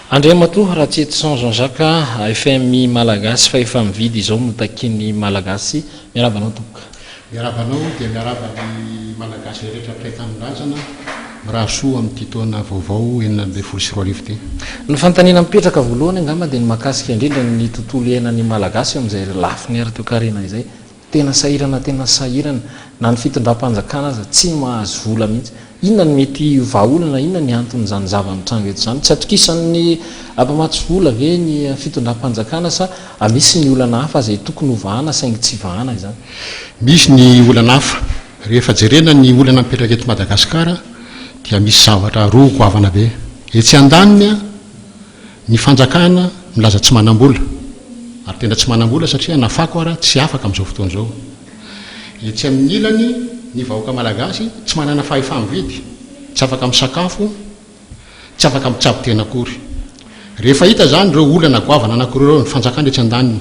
Andriamatoa Ratsietison Jean Jacques, FMI Malagasy fa efa mividy izao no takian'ny Malagasy. Miaraba anao Tompoko. Miaraba anao dia miaraba ny Malagasy rehetra mpiray tanindrazana. Mirary soa amin'ity taona vaovao enina ambin'ny folo sy roa arivo ity. Ny fanontaniana mipetraka voalohany angamba dia ny mahakasika indrindra ny tontolo iainan'ny Malagasy amin'izay lafiny ara-toekarena izay. Tena sahirana tena sahirana. Na ny fitondram-panjakana aza tsy mahazo vola mihitsy. Inona no mety ho vahaolana, inona ny anton'izany zava-mitranga eto izany? Tsy atokisan'ny mpamatsy vola ve ny fitondram-panjakana sa misy ny olana hafa izay tokony ho vahana saingy tsy vahana izany? Misy ny olana hafa. Rehefa jerena ny olana mipetraka eto Madagasikara dia misy zavatra roa goavana be. Etsy andaniny, ny fanjakana milaza tsy manam-bola, ary tena tsy manam-bola satria na fako ara tsy afaka amin'izao fotoana izao. Etsy amin'ny ilany, ny vahoaka malagasy tsy manana fahefa-mividy, tsy afaka misakafo, tsy afaka mitsabo tena akory. Rehefa hita izany ireo olana goavana anankiroa ireo, ny fanjakana etsy andaniny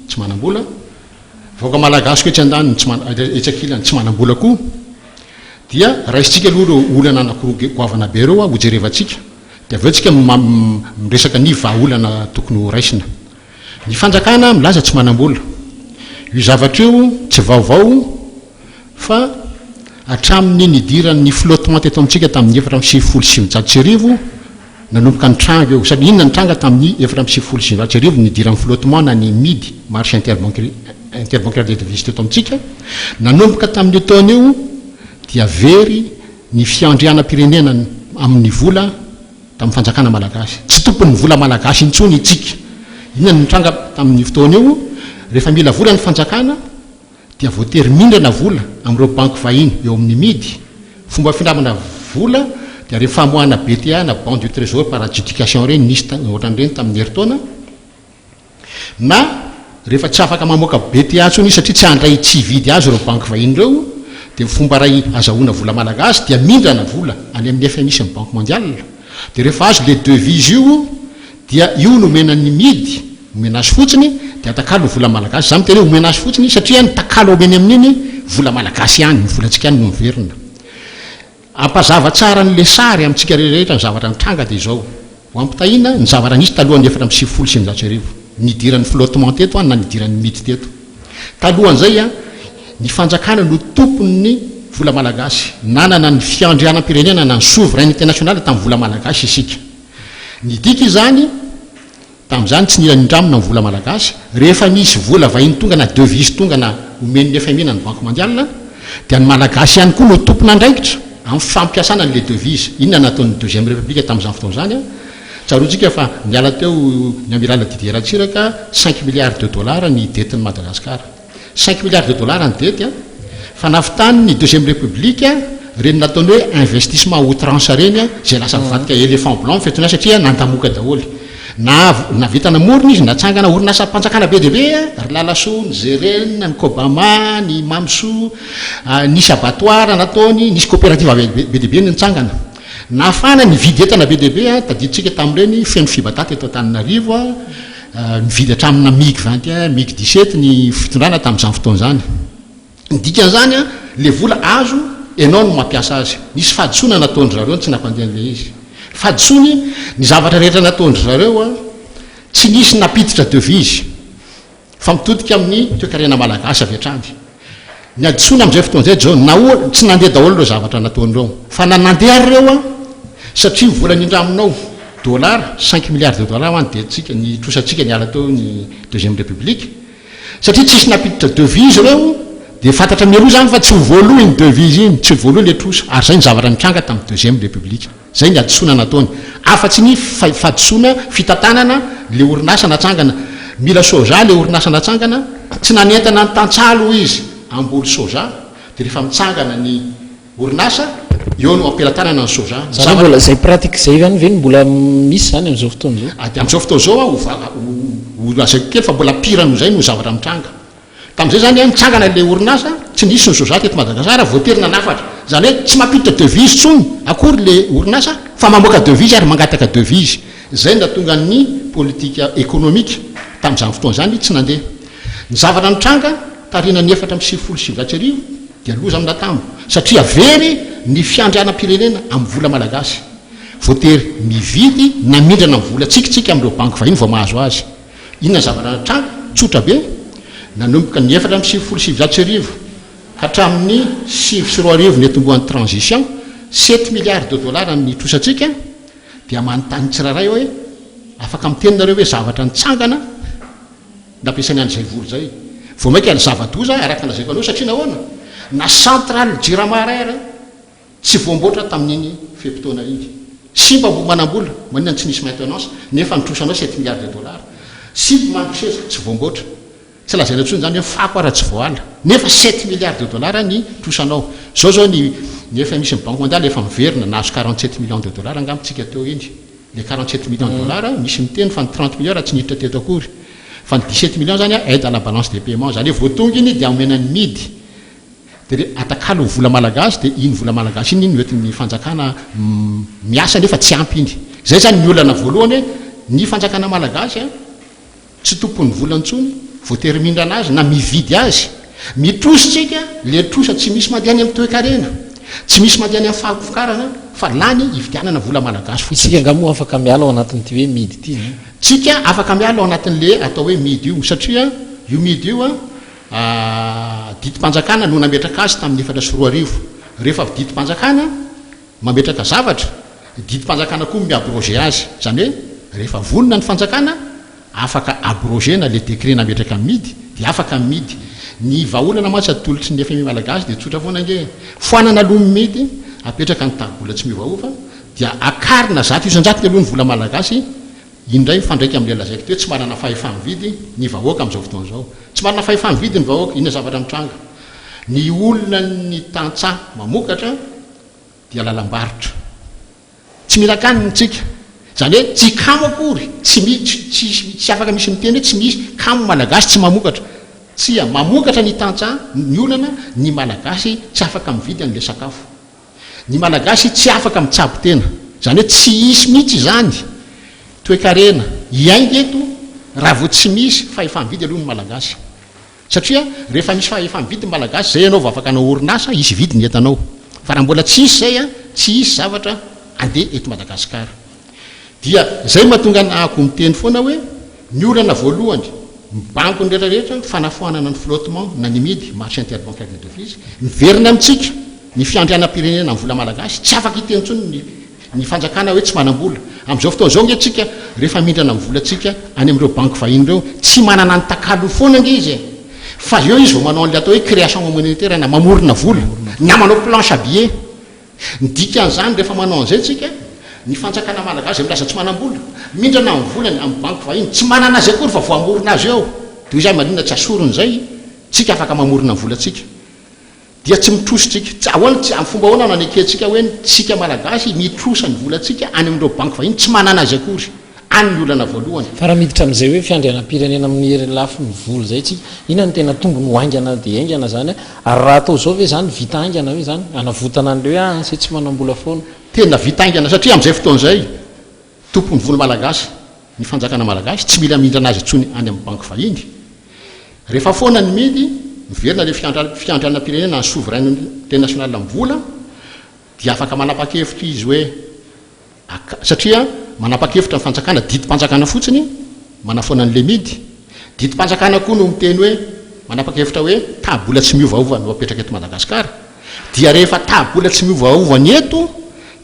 tsy manam-bola, vahoaka malagasiko etsy andaniny tsy mana, etsy ankilany tsy manambola koa dia raisintsika aloha ireo olana anakiroa goavana be ireo a, hojerevantsika dia avy eo tsika miresaka ny vahaolana tokony ho raisina. Ny fanjakana milaza tsy manambola. Io zavatra io tsy vaovao fa hatramin'ny nidiran'ny flottement teto amintsika tamin'ny efatra amby sivifolo sy sivinjato sy arivo Nanomboka nitranga eo, sady inona nitranga tamin'ny efatra amby sivifolo sy sivinjato sy arivo ny nidiran'ny flottement na ny midi, marche interbancaire des devises teto amintsika, nanomboka tamin'io taona io dia very ny fiandrianam-pirenena amin'ny vola tamin'ny fanjakana malagasy. Tsy tompon'ny vola malagasy intsony itsika. Inona no nitranga tamin'io fotoana io? Rehefa mila vola ny fanjakana, dia voatery mindrana vola amin'ireo banky vahiny eo amin'ny mid, fomba findramana vola dia ireny famoahana BTA na Bon du Trésor par adjudication ireny, nisy ohatran'ireny tamin'ny herintaona, na rehefa tsy afaka mamoaka BTA intsony izy satria tsy handray tsy hividy azy ireo banky vahiny ireo dia ny fomba iray azahoana vola malagasy dia mindrana vola any amin'ny FMI sy ny Banque Mondiale dia rehefa azo ilay devise io dia io nomena ny midy omena azy fotsiny dia atakalo ny vola malagasy, za miteny hoe omena azy fotsiny satria ny takalo omeny amin'iny vola malagasy ihany, ny volantsika ihany no miverina. Ampazava tsara ny le sary amintsika rehetra ny zavatra nitranga dia izao, ho ampitahiana ny zavatra nisy talohan'ny efatra amby sivifolo sy sivinjato sy arivo, nidiran'ny flottement teto an na nidiran'ny midy teto. Talohan'izay an, ny fanjakana no tompon'ny vola malagasy, nanana ny fiandrianam-pirenena na ny souverainite nationale tamin'ny vola malagasy isika. Nidika izany, tamin'izany tsy nila nindramina ny vola malagasy, rehefa misy vola vahiny tonga na devises tonga na omen'ny fmi na ny banque mondiale dia ny malagasy ihany koa no tompon'andraikitra amin'ny fampiasana an'ilay devise. Inona no nataon'ny deuxième république tamin'izany fotoana izany? Tsaroantsika fa niala teo ny amiral Didier Ratsiraka, cinq milliards de dollars ny dettes-n'i Madagasikara. Cinq milliards de dollars ny dette an! Fa nafitany ny deuxième république ireny nataony hoe investissement à outrance ireny izay lasa mivadika éléphant blanc ny fiantonay satria nandamoka daholo. Na nahavita namorona izy, natsangana orinasam-panjakana be dia be, ry Lalasoa, ny Zerena, ny Cobama, ny Mamisoa, nisy abattoir nataony, nisy coopérative be dia be nitsangana. Nafana, nividy entana be dia be, tadidintsika tamin'ireny feno fibadat eto Antananarivo. Nividy hatramina Mig vingt et un, Mig dix sept ny fitondrana tamin'izany fotoana izany. Ny dikan'izany, ilay vola azo, ianao no mampiasa azy. Nisy fahadisoana nataon-dry zareo no tsy nampandeha an'ilay izy. Fahadisoany, ny zavatra rehetra nataon-dry zareo, tsy nisy nampiditra devise fa mitodika amin'ny toekarena malagasy avy hatrany. Ny hadisoana amin'izay fotoana izay John, nahoa tsy nandeha daholo ireo zavatra nataony ireo? Fa na nandeha ary ireo an, satria ny vola nindraminao, dollars, cinq milliards de dollars hoan dia tsika, ny trosantsika niala teo ny deuxième république, satria tsisy nampiditra devise ireo, dia fantatra mialoha izany fa tsy ho voaloa iny devise iny, tsy ho voaloa ilay trosa, ary izay ny zavatra nitranga tamin'ny deuxième république. Izay ny hadisoana nataony. Afa-tsy ny fahadisoana fitantanana ilay orinasa natsangana. Mila soja ilay orinasa natsangana, tsy nanentana ny tantsaha aloha izy hamboly soja, dia rehefa mitsangana ny orinasa, eo no ampelatanana ny soja. Ny zavatra. Izany hoe mbola izay pratique izay ihany ve no mbola misy izany amin'izao fotoana izao? Amin'izao fotoana izao, ho lazaiko kely fa mbola pire noho izay no zavatra mitranga. Tamin'izay izany nitsangana ilay orinasa, tsy nisy ny soja teto Madagasikara, voatery nanafatra. Izany hoe tsy mampiditra devise intsony akory ilay orinasa fa mamoaka devise ary mangataka devise. Izay no nahatonga ny politika ekonomika tamin'izany fotoana izany tsy nandeha. Ny zavatra nitranga taoriana ny efatra amby sivifolo sy sivinjato sy arivo dia loza natambo satria very ny fiandrianam-pirenena amin'ny vola malagasy. Voatery mividy namindrana ny vola tsik tsik amin'ireo banky vahiny vao mahazo azy. Inona zavatra natranga? Tsotra be, nanomboka ny efatra amby sivifolo sy sivinjato sy arivo ka hatramin'ny sivy sy roa arivo niatombohan'ny transition, sept milliards de dollars ny trosantsika, dia manontany ny tsirairay aho hoe afaka miteny nareo ve zavatra nitsangana nampiasaina an'izay vola izay? Vao mainka ny zava-doza, araka ny lazaiko anareo, satria nahoana? Na centrale jirama iray ary Tsy voamboatra tamin'iny fe-potoana iny. Simba vao manam-bola, maninona tsy nisy maintenance, nefa nitrosanao sept milliards de dollars. Simba mandro seza, tsy voamboatra. Tsy lazaina intsony izany hoe fako ara tsy voala. Nefa sept milliards de dollars ny trosanao. Izao izao ny ny fmi sy ny banque mondiale efa miverina, nahazo quarante sept millions de dollars angamba tsika teo iny. Ilay quarante sept millions de dollars, misy miteny fa ny trente millions raha tsy niditra teto akory. Fa ny dix sept millions izany aide à la balance des paiements izany hoe vao tonga iny dia omena ny mid. Dia re, atakalo ny vola malagasy dia iny vola malagasy iny no entin'ny fanjakana miasa nefa tsy ampy iny. Izay izany ny olana voalohany hoe ny fanjakana malagasy tsy tompon'ny vola intsony, voatery mindrana azy na mividy azy. Mitrosa isika, le trosa tsy misy mandeha any amin'ny toekarena, tsy misy mandeha any amin'ny fahavokarana fa lany ividianana vola malagasy fotsiny. Isika angaha moa afaka miala ao anatin'ity hoe midy ity? Tsika afaka miala ao anatin'le atao hoe midy io satria io midy io A Didim-panjakana no nametraka azy tamin'ny efatra sy roa arivo. Rehefa avy didim-panjakana mametraka zavatra, didim-panjakana koa mi-abroger azy. Izany hoe rehefa vonona ny fanjakana, afaka abroger-na ilay décret nametraka ny midy, dia afaka ny midy. Ny vahaolana mantsy atolotry ny fmi malagasy dia tsotra foana ange e! Foanana aloha ny midy, apetraka ny taribola tsy miovaova, dia akarina zato isan-jatony aloha ny vola malagasy, Indray mifandraika amin'ilay lazaiko teo, tsy manana fahefa-mividy ny vahoaka amin'izao fotoana izao. Tsy manana fahefa-mividy ny vahoaka. Inona zavatra mitranga? Ny olona ny tantsaha mamokatra dia lalam-barotra. Tsy mila akany ny tsika. Izany hoe tsy kamo akory. Tsy misy, tsy, tsy afaka misy miteny hoe tsy misy kamo malagasy tsy mamokatra. Tsia, mamokatra ny tantsaha, ny olana, ny malagasy tsy afaka mividy an'ilay sakafo. Ny Malagasy tsy afaka mitsabo tena. Izany hoe tsy hisy mihitsy izany toekarena hiainga eto raha vao tsy misy fahefa-mividy aloha ny Malagasy. Satria rehefa misy fahefa-mividy ny Malagasy, izay ianao vao afaka hanao orinasa, hisy hividy ny entanao. Fa raha mbola tsy hisy izay, tsy hisy zavatra handeha eto Madagasikara. Dia izay mahatonga ny ahako miteny foana hoe ny olana voalohany mibango ny rehetra rehetra fanafoanana ny flottement na ny mid marché interbancaire des devises miverina amintsika ny fiandrianam-pirenena amin'ny vola malagasy tsy afaka hiteny intsony ny ny fanjakana hoe tsy manam-bola amin'izao fotoana izao nge tsika rehefa mindrana amin'ny volantsika any amin'ireo banky vahiny ireo tsy manana ny takalony foana nge izy e fa eo izy vao manao an'ilay atao hoe création monétaire na mamorona vola na manao planche à billets Ny dikan'izany rehefa manao an'izay tsika, ny fanjakana malagasy izay milaza tsy manam-bola, mindrana ny volany amin'ny banky vahiny, tsy manana azy akory fa voamorona azy eo. Toy izany maninona tsy asoriny izay tsika afaka mamorona ny volantsika? Dia tsy mitrosa tsika. Tsy ahoana tsy, amin'ny fomba ahoana no anekentsika hoe ny tsika malagasy mitrosa ny volantsika any amin'ireo banky vahiny tsy manana azy akory? any ny olana voalohany. Fa raha miditra amin'izay hoe fiandrianam-pirenena amin'ny herin'ny lafiny vola izay isika, inona no tena tombony ho haingana dia haingana izany? Ary raha atao izao ve izany, vita haingana ve izany? Hanavotana an'ilay hoe ah, anse tsy manam-bola foana. Tena vita haingana satria amin'izay fotoana izay, tompon'ny vola malagasy ny fanjakana malagasy, tsy mila mindrana azy intsony any amin'ny banky vahiny. Rehefa foana ny midy, miverina ilay fiandrianam-pirenena, ny souverain international amin'ny vola, dia afaka manapa-kevitra izy hoe, Ak, satria manapa-kevitra ny fanjakana, didim-panjakana fotsiny, manafoana ny Lemidy. Didim-panjakana koa no miteny hoe, manapa-kevitra hoe, tabola tsy miovaova no apetraka eto Madagasikara. Dia rehefa tabola tsy miovaova ny eto,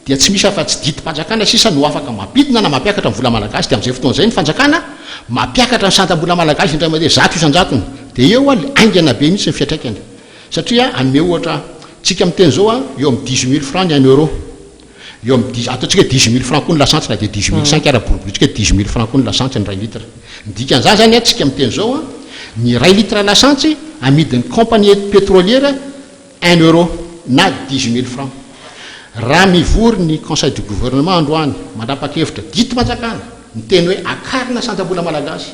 dia tsy misy afa-tsy didim-panjakana sisa no afaka mampidina na mampiakatra ny vola malagasy. Dia amin'izay fotoana izay ny fanjakana mampiakatra ny santam-bola malagasy indray mandeha zato isan-jatony. Dia eo alo, haingana be mihitsy ny fiatraikany. Satria hanome ohatra, tsika miteny izao, eo amin'ny dix-huit mille francs ny un euro. Eo amin'ny dix, ataontsika hoe dix mille francs koa ny lasantsy na dia dix mille cinq ara, boriborintsika hoe dix mille francs koa ny lasantsy ny iray litre. Ny dikan'izany izany an, tsika miteny izao an, ny iray litre lasantsy amidin'ny compagnie petrolière un euro na dix mille francs. Raha mivory ny conseil du gouvernement androany, mandrapakevitra, didim-panjakana, miteny hoe akarina sanjam-bola malagasy,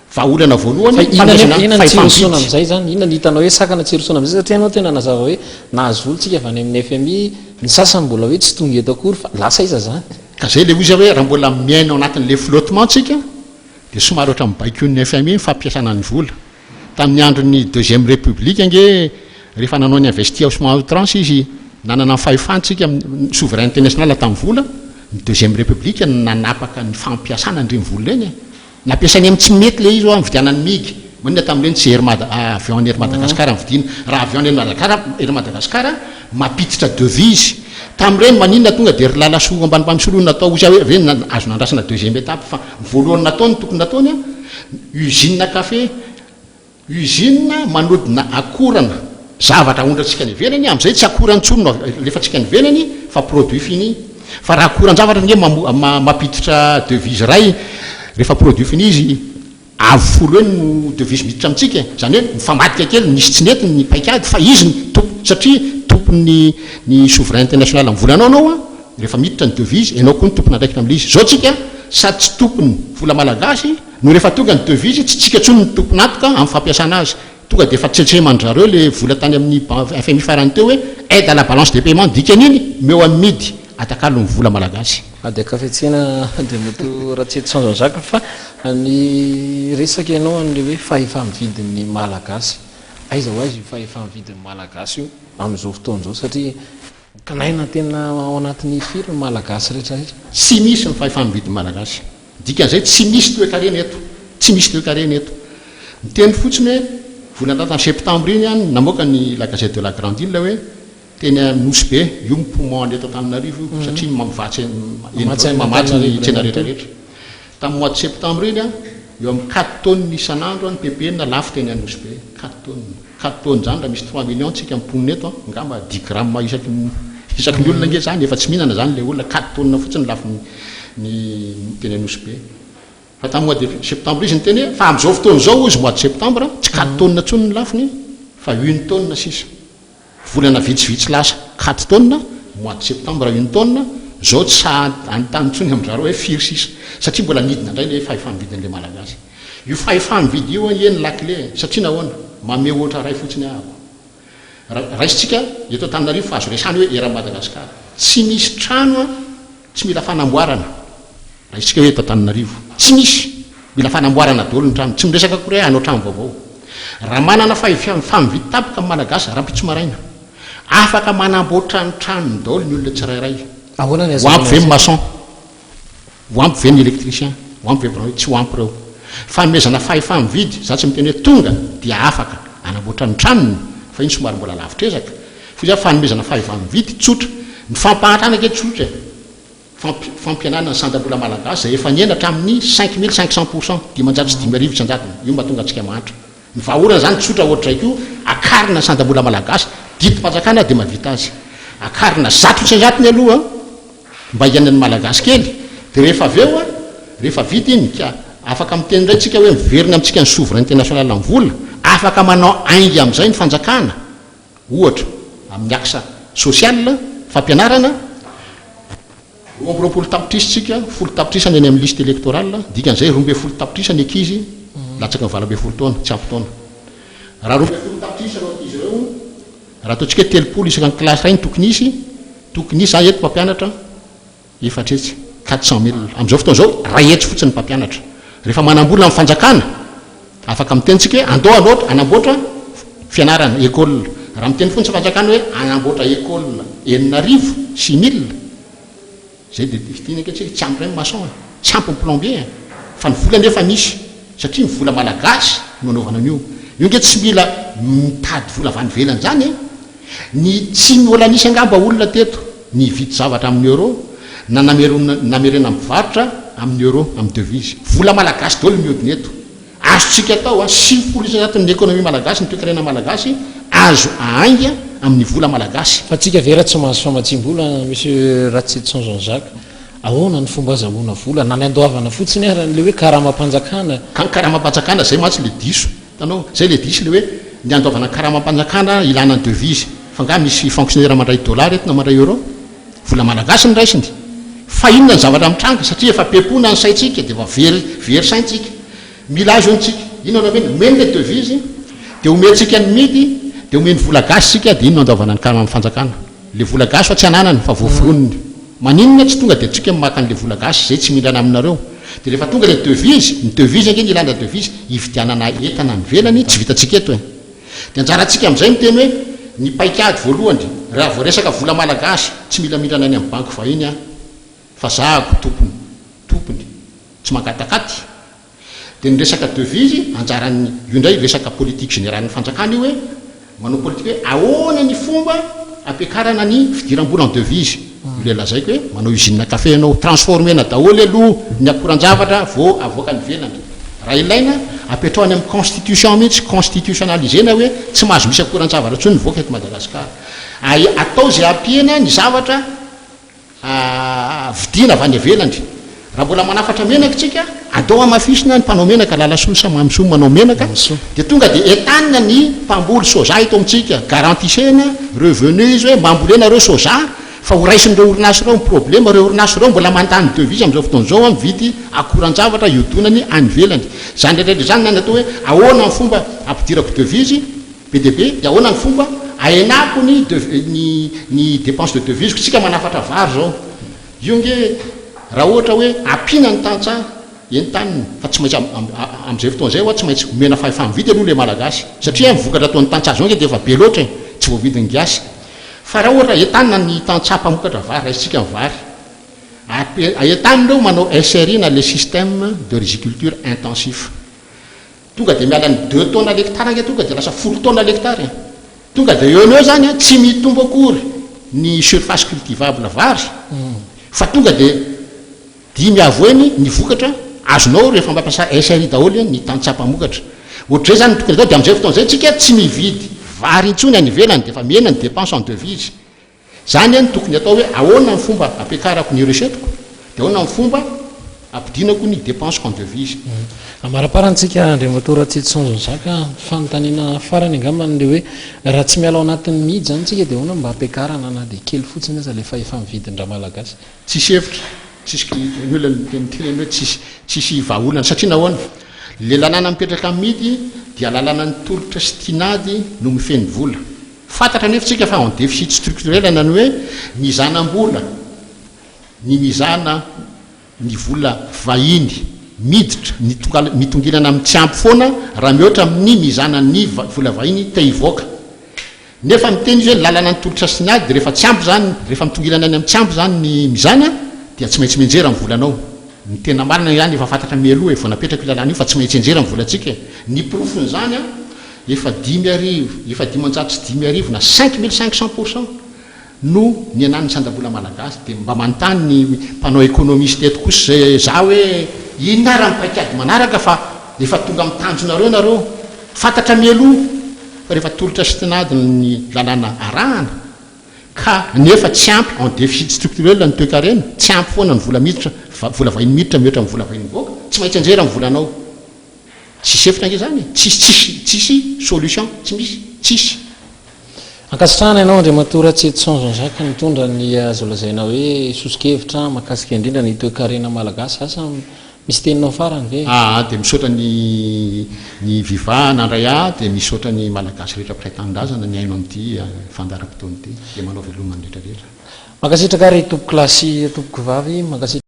Vahaolana voalohany, fanomezana fahefam-bidy. Inona ny hitanao hoe sakana tsy hirosoana amin'izay satria ianao tena nazava hoe nahazo vola tsika avy any amin'ny fmi, ny sasany mbola hoe tsy tonga eto akory fa lasa aiza izany? Ka izay ilay ozy aho hoe raha mbola miaina ao anatin'ilay flottement tsika dia somary ohatran'ny baikoin'ny fmi ny fampiasana ny vola. Tamin'ny andron'ny deuxième république ange rehefa nanao ny investi ao à outrance izy nanana ny fahefantsika ny souveraineté nationale tamin'ny vola, ny deuxième république no nanapaka ny fampiasana an'ireny vola ireny e! Ny ampiasainy amin'ny tsy mety ilay izy hoa mividiana an'i Mig. Maninona tamin'ireny tsy Air Mad a avion an'i Air Madagascar no vidiana. Raha avion an'i Air Madagascar Air Madagascar mampiditra devise. Tamin'ireny maninona tonga dia ry Lalasoa Ambanimbany Solo no natao ozy aho hoe ve azo nandrasana deuxième étape fa ny voalohany nataony tokony nataony a usine café Usine manodina akorana. Zavatra ahondrantsika any ivelany, amin'izay tsy akora intsony no alefantsika any ivelany fa produit fini. Fa raha akoran-javatra ange mampiditra devise iray, rehefa produit fini izy, avo folo eo no devise miditra amintsika e! Izany hoe mifambadika kely, nisy tsy nety ny paikady fa izy no tompony satria tompon'ny ny souverain international amin'ny volanao ianao, rehefa miditra ny devise, ianao koa no tompon'andraikitra amin'ilay izy. Izao tsika sady tsy tompon'ny vola malagasy, No rehefa tonga ny devis tsy tsika intsony ny tompon'atoka amin'ny fampiasana azy. Tonga dia efa tsentsehman-dry zareo le vola tany amin'ny fmi farany teo hoe aide à la balance de paiement dikany iny meo amin'ny midy atakalon'ny vola malagasy. Ady ankafetsena Andriamatoa Ratsety Sanjan Jacques fa niresaka ianao an'ilay hoe fahefa-mividin'ny Malagasy. Aiza ho aiza io fahefa-mividin'ny Malagasy io amin'izao fotoana izao satria. Kinaina tena ao anatin'ny firy ny Malagasy rehetra rehetra? Tsy misy ny fahefa-mividin'ny Malagasy. Dikan'izay tsy misy toekarena eto. Tsy misy toekarena eto. Niteny fotsiny hoe volana lasa ny septambra iny an, namoaka ny La Gazette de la Grande Ile hoe teny amin'ny Nosy Be, io ny poumon an'eto Antananarivo io satria mamatsy, mamatsy ny tsena rehetra rehetra. Tamin'ny mois de septembre iny, eo amin'ny quatre tonnes isan'andro ny ppn lafo teny Anosibe. Quatre tonnes. Quatre tonnes izany raha misy trois millions tsika mponina eto, angamba dix grammes isaky ny isaky ny olona ange izany, efa tsy mihinana izany ilay olona, quatre tonnes fotsiny lafo ny teny Anosibe. Fa tamin'ny mois de septembre izy niteny hoe fa amin'izao fotoana izao hozy mois de septembre tsy quatre tonnes intsony ny lafony fa une tonne sisa. Volana vitsivitsy lasa, katy taona, mois de septembre iny taona, zao tsy sahy anontany intsony amin-dry zareo hoe firy sisa, satria mbola nidina indray le fahefa-mividin' le Malagasy. Io fahefa-mividy io anie no lakile e, satria nahoana? Mamehy ohatra iray fotsiny ahako. Raisintsika eto Antananarivo fa azo resahana hoe eran'i Madagasikara. Tsy misy trano a! Tsy mila fanamboarana raha isika hoe eto Antananarivo. Tsy misy. Mila fanamboarana daholo ny trano. Tsy miresaka akory hoe hanao trano vaovao. Raha manana fahavitam-fahavidy tampoka ny Malagasy, rahampitso maraina, afaka manamboatra ny tranony daholo ny olona tsirairay. Ahoana ny Ho ampy ve ny ahazoana maçon? Ho ampy ve ny électricien? Ho ampy ve ny biraonety? Tsy ho ampy ireo. Fanomezana fahefa-mividy, izaho tsy miteny hoe tonga dia afaka hanamboatra ny tranony, fa iny somary mbola lavitr'ezaka. Hoy izaho, fanomezana fahefa-mividy tsotra. Ny fampahantrana ange tsotra e! Fampi, fampihenana ny sandam-bola malagasy izay efa nihena hatramin'ny cinq mille cinq cents pour cent, dimanjato sy dimy arivo isan-jatony. Io no mahatonga antsika mahantra. Ny vahaolana izany tsotra hoatr'izay koa, akarina ny sandam-bola malagasy, didim-panjakana dia mahavita azy. Akarina zato isan-jatony aloha mba hiainan'ny malagasy kely, dia rehefa avy eo, rehefa vita iny, ka afaka miteny indray tsika hoe miverina amintsika ny souveraineté nationale amin'ny vola, afaka manao ainga amin'izay ny fanjakana. ohatra, amin'ny axe social, fampianarana, roa amby roapolo tapitrisa tsika, folo tapitrisa ny any amin'ny liste electorale, dikan'izay roa ambin'ny folo tapitrisa ny ankizy latsaky ny valo ambin'ny folo taona, tsy ampy taona. Raha roa ambin'ny folo tapitrisa ireo ankizy ireo, raha ataontsika hoe telopolo isaka ny classe iray no tokony hisy, tokony hisy, za eto mpampianatra, Efatra hetsy, quatre cents milles. Amin'izao fotoana izao, iray hetsy fotsiny ny mpampianatra. Rehefa manam-bola ny fanjakana, afaka miteny isika hoe andao hanoatra, hanamboatra fianarana, école. Raha miteny fotsiny ny fanjakana hoe hanamboatra école enina arivo, six milles, izay dia fidiny ange isika, tsy ampy indray ny maçon e, tsy ampy ny plombier e. Fa ny vola anefa misy, satria ny vola malagasy no anaovana an'io. Io ange tsy mila mitady vola avy any ivelany izany e. Ny tsy mbola nisy angamba olona teto nividy zavatra amin'ny euro na namerena mpivarotra amin'ny euro, amin'ny devise. Vola malagasy daholo mihodina eto. Azontsika atao an, sivifolo isan-jaton' ny ekonomia malagasy, ny toekarena malagasy, azo ahainga amin'ny vola malagasy. Fa tsika ve ra tsy mahazo famatsiam-bola Monsieur Ratsitson Jean Jacques, ahoana ny fomba azahoana vola? Na ny andoavana fotsiny ara, an'ilay hoe karamam-panjakana. Ka ny karamam-panjakana, zay mantsy le diso. Hitanao? Zay le diso le hoe ny andovana karamam-panjakana ilana ny devise. Fa nga misy fonctionnaire mandray dollars eto na mandray euro? Vola malagasy no raisiny. Fa inona ny zavatra mitranga? Satria efa be pona ny saintsika dia efa very very saintsika. Mila azy ho'ntsika. Inona no omeny? Omeny le devise dia omentsika ny midy dia omeny vola gasy tsika dia iny no andovana ny karamam-fanjakana. Le vola gasy fa tsy ananany fa voavoroniny. Maninona tsy tonga de atsika maka anle vola gasy zay tsy mindrana aminareo. De refa tonga le devise, ny devise ange ny ilana devise hividianana entana any ivelany tsy vitantsika eto e. De anjaratsika amzay miteny hoe ny paikady voalohany raha vao resaka vola malagasy tsy mila mindrana any am banky vahiny an. Fa zahako tompony, tompony, tsy mangatakaty. Dia ny resaka devise, anjaran'ny, io indray resaka politique générale-n'ny fanjakana io hoe manao politika hoe ahoana ny fomba hampiakarana ny fidiram-bola en devise. Io ilay lazaiko hoe manao usine café ianao, transformer-na daholo aloha ny akoran-javatra vao avoaka any ivelany. Raha ilaina, apetraho any amin'ny constitution mihitsy, constitutionnaliser-na hoe tsy mahazo misy akoran-javatra intsony mivoaka eto Madagasikara. Atao izay hampihena ny zavatra. vidiana avy any ivelany. Raha mbola manafatra menaka isika, atao hamafisina ny mpanao menaka, lalasoa sa mamisoa manao menaka, dia tonga dia entanina ny mpamboly soja eto amintsika. Garantisena revenu izy hoe mba ambolena ireo soja fa ho raisin'ireo orinasa ireo ny problema. Ireo orinasa ireo mbola mandany devise amin'izao fotoana izao an, mividy akoran-javatra hiodonany any ivelany. Izany rehetra rehetra izany na ny atao hoe ahoana ny fomba hampidirako devise, Be dia be, dia ahoana ny fomba ahenako ny dev ny ny dépenses de devises-ko? Isika manafatra vary izao, io ange raha ohatra hoe ampiana ny tantsaha entanina, fa tsy maintsy am am amin'izay fotoana izay ho'a tsy maintsy omena fahefa mividy aloha ilay Malagasy, satria an ny vokatra ataon'ny tantsaha izao ange dia efa be loatra e, tsy voavidin'ny gasy. Fa raha ohatra entanina ny tantsaha mpamokatra vary, raisintsika ny vary, ape entanina eo manao SRI na le système de riziculture intensif, Tonga dia miala ny deux tonnes l'hectare ange tonga dia lasa folo tonnes l'hectare e! Tonga dia eo no eo izany an, tsy mitombo akory ny surface cultivable vary fa tonga dia dimy avo heny ny vokatra azonao rehefa mampiasa SRI daholo ny tantsaha mpamokatra. Ohatr'izay izany no tokony atao dia amin'izay fotoana izay isika tsy mividy vary intsony any ivelany dia efa mihena ny dépenses en devises. Izany anie no tokony atao hoe ahoana ny fomba ampiakarako ny recette-ko dia ahoana ny fomba ampidinako ny dépenses-ko en devises. Amaraparantsika Andriamatoa Ratsitson Zanjaka, ny fanontaniana farany angamba ilay hoe raha tsy miala ao anatin'ny mihidy izany isika dia ahoana mba ampiakarana na dia kely fotsiny aza ilay fahefam vidin-dramalagasy? Tsisy hevitra, tsisy ny olona miteny hoe tsisy tsisy vahaolana satria nahoana? Ilay lalàna mipetraka amin'ny mihidy dia lalànan'ny tolotra sy tinady no mifehy ny vola. Fantatra anefa isika fa en déficit structurel anany hoe mizanam-bola ny mizana ny vola vahiny miditra mitokala mitongilana amin'ny tsy ampy foana raha mihoatra amin'ny mizana ny vola vahiny te hivoaka nefa miteny izy hoe lalana ny tolotra sy ny ady rehefa tsy ampy izany rehefa mitongilana any amin'ny tsy ampy izany ny mizana dia tsy maintsy mianjera ny volanao ny tena marina izany efa fantatra mialoha e vao napetraka io lalana io fa tsy maintsy enjera ny volantsika e ny porofon'izany an Efa dimy arivo, efa dimanjato sy dimy arivo na cinq mille cinq cents pour cent no nihenan'ny sandam-bola malagasy dia mba manontany ny mpanao économiste eto kosa za hoe inona ary amin'ny paikady manaraka fa efa tonga amin'ny tanjonareo nareo fantatra mialoha fa rehefa tolotra sy tinady ny lalàna arahana ka nefa tsy ampy en déficit structurel ny toekarena tsy ampy foana ny vola miditra, vola vahiny miditra mihoatra amin'ny vola vahiny mivoaka tsy maintsy anjera ny volanao. Tsisy hevitra ange zany e! Tsisy tsisy tsisy solution tsy misy tsisy. Ankasitrahana ianao Andriamatoa Ratsietison Jean-Jacques nitondra ny azo lazaina hoe soso-kevitra mahakasika indrindra ny toekarena malagasy. Asa misy teninao farany ve? Aa dia misaotra ny ny viva nandray ahy dia misaotra ny malagasy rehetra mpiray tanindrazana mihaino amin'ity fandaharam-potoana ity dia manao veloma ny rehetra rehetra. Mankasitraka ry tompokolahy sy tompokovavy, mankasitraka.